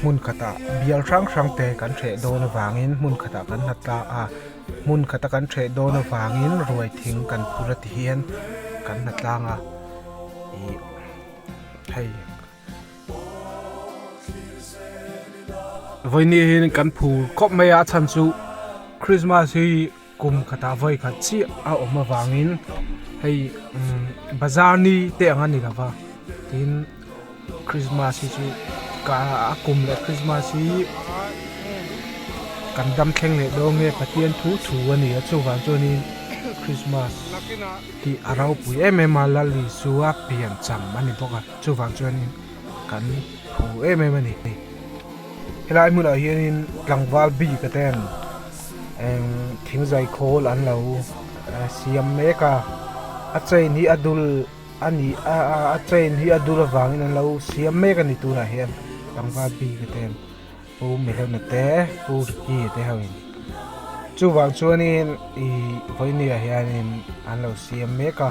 Hmun khata bial hrang hrang te kan hreh dawn avangin hmun khata kan hlat ta a, hmun khata kan hreh dawn avangin ruai thing kan phur a ti hian kan hna tlang a. Ih hei vawiin kan phur khawp mai a a chhan chu Krismas hi Kum khatah vawikhat chiah a awm avangin hei bazar ni te ang a ni lova tin Krismas hi chu ka kum leh Krismas hi kan damthleng leh dawn nge Pathian thu thu a ni a chuvang chuanin Krismas hi a ropui em em a Lal Isua pian cham a ni bawk a chuvang chuanin kan phu em em a ni. Helai hmunah hianin tlangval bikah ten Thing zai khawl an lo siam mek a, a chain hi a dul a ni a, a chain hi a dul avangin an lo siam mek a ni tunah hian pangva bike ten Pu Mehlawhna te Pu Ricky te ho in chuvang chuanin ih vawinia hianin an lo siam mek a.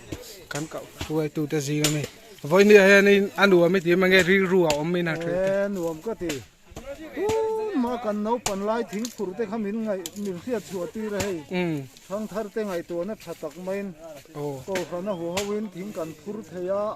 Kan kah hruaitu te zing ami. Vawihnia hian in a nuam i ti em ange, rilru a awm in a ṭheh te. He nuam ka ti. Tumah kan naupan lai thing phur te kha min ngaih, min hriat chhuah tir a hei. Thangthar te ngaihtuahna ṭha tak maiin, ko hrana huaho in thing kan phur thei a.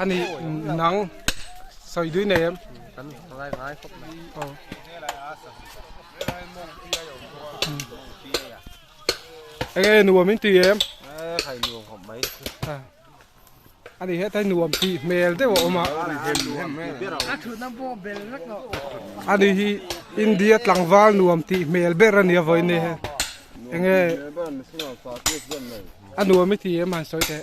ani nang sawi dui nei em kan ngai ngai khawp mai aw enge nuam in ti em khai nuam khawp mai ani he tai nuam ti hmel deuh a awma ani hi india tlangval nuam ti hmel ber ani a vawi nei he enge anuam i ti em han sawi teh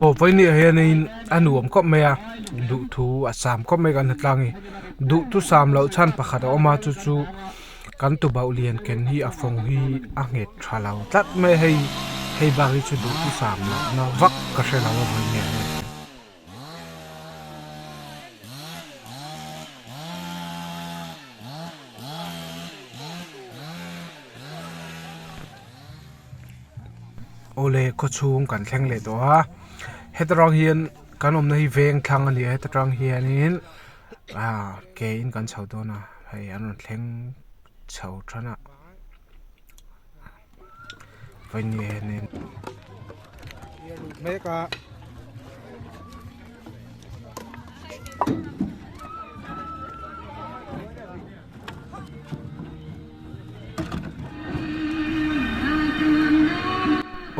Aw pawimia hian in a nuam khawp mai a duhthu a sam khawp mai kan hnathlang a ni duhthusam loh chhan pakhat a awm a chu chu-- Kan tubauh lian ken hi a fawng hi a nghet tha lo tlat mai hei hei bak hi chu duh ti fam loh na vak ka hre lo a vawi nge hle. Awle khaw chhung kan thleng leh tawh a heta tang hian kan awmna hi veng thlang a ni a heta tang hian in-- Ke in kan chho dawn a, hei an rawn thleng chho than a, vawinie hian in a luh hmek a,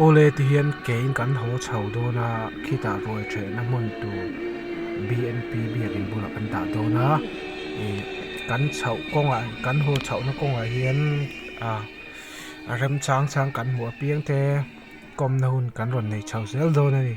Awle ti hian kein kan haw chho dawn a khitah ruai ṭhehna hmun tur bnp biakin bulah kan dah dawn a ih kan chho kawngah kan haw chhohna kawngah hian ah remchang chang kan hmu apiang te. Kawmna hun kan rawn nei chho zel dawn a ni.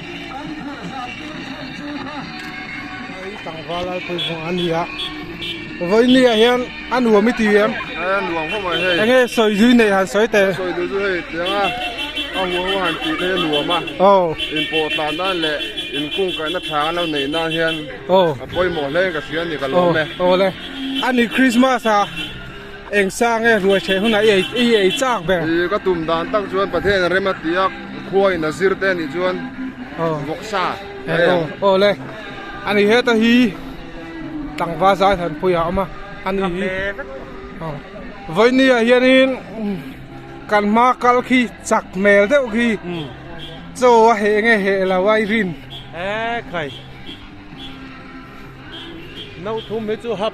Kan phurh zam tur chhan chu kha. Hei tlangval Lalpui vawng a ni a, vawi ni ah hian a nuam i ti em? Hei a nuam ho mai hei. Enge sawi zui nei han sawi te? Sawi duh chu hei tiang a, a hua ho han tih theih a nuam a. Aw. In pawh tlan nan leh in kung kai na thla lo nei nan hian. Aw. A pawimawh hle in ka si a ni ka lawm e. Aw le. Ani Krismas a. Eng sang e, ruaihtheh hunah i ei chak ber. I ka tum dan tak chuan Pathian a rem a ti a, khua in a zir te a nih chuan vawk sa a awm. Awle, a ni heta hi tlangva zai han pui ah a awm a, a ni hi vawinia hianin kan hma kal khi chak hmel deuh khi chaw a heh nge heh lo a i rin. Ekhai, nauthum hi chu hap.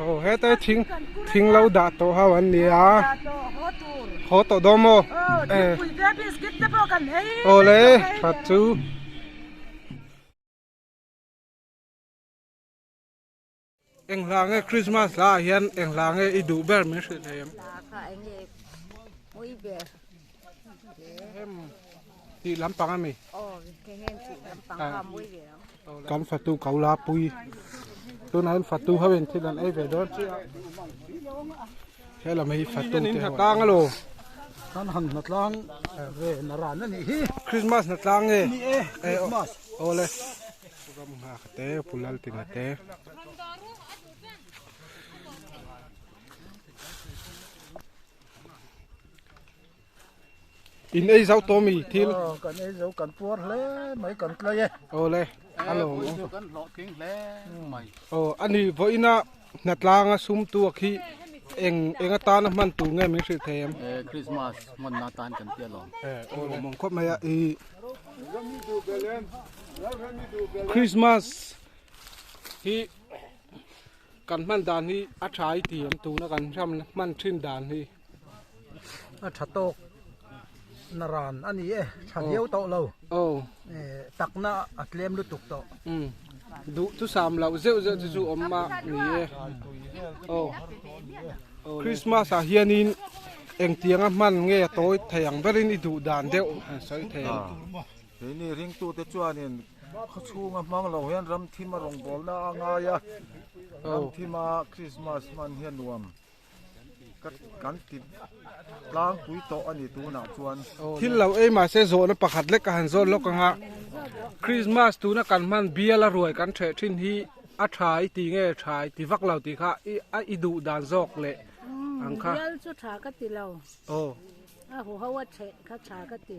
Aw heta thing thing lo dah tawh ho an nia haw tawh dawn maw awle hrut chu. Eng hla nge Christmas hla ah hian eng hla nge i duh ber min hrilh thei em? Hla kha eng nge mui ber em? Ti lampang a mi? Aw, kengin ti lampang kha mui ber ang. Kan fatu ko la pui. Tuna in fatu ho in thil an ei ve dawn chi a. Helama hi fatu te hna tlang alo. Kan han hna tlang ve na ran a nih hi. Christmas hna tlang nge? Aw le. Ram nghak te pulal tina te. In ei zau to mi thil. Ờ, kan ei zau kan puar hle mai kan tlai e. Ồ le, alo. Kan hlawh king hle mai. Ồ, ani voina Hnatlanga sumtu a khi eng eng atana hman tur nge min hrilh thei em? Eh, Christmas hmanna atan kan ti alawm. Eh, aw le mawng khawp mai a i. Christmas hi kan hman dan hi a tha i ti em tuna kan hram hman thin dan hi. a tha tawk na ran a ni e, tha viau tawh lo, takna a tlem lutuk tawh. Duh chu sam loh zeuh zeuh te chu awm mah ni e, aw Christmas ah hianin engtiang a hman nge a tawi thei ang ber in i duh dan deuh a sawi thei ang. Keini ringtu te chuanin khawchhung a hmang lo hian ramthim a rawngbawlna a ngai a, ramthim a Christmas hman hi a nuam. Kan ti tlangpui tawh a ni tunah chuan thil lo ei mahse zawhna pakhat lek a han zawn lawk ang a, Krismas tuna kan hman biala ruai kan ṭheh ṭhin hi a ṭha i ti nge ṭha i ti vak lo tih kha a i duh dan zawk leh ang kha. Bial chu ṭha ka ti lo, a huho a ṭheh kha ṭha ka ti.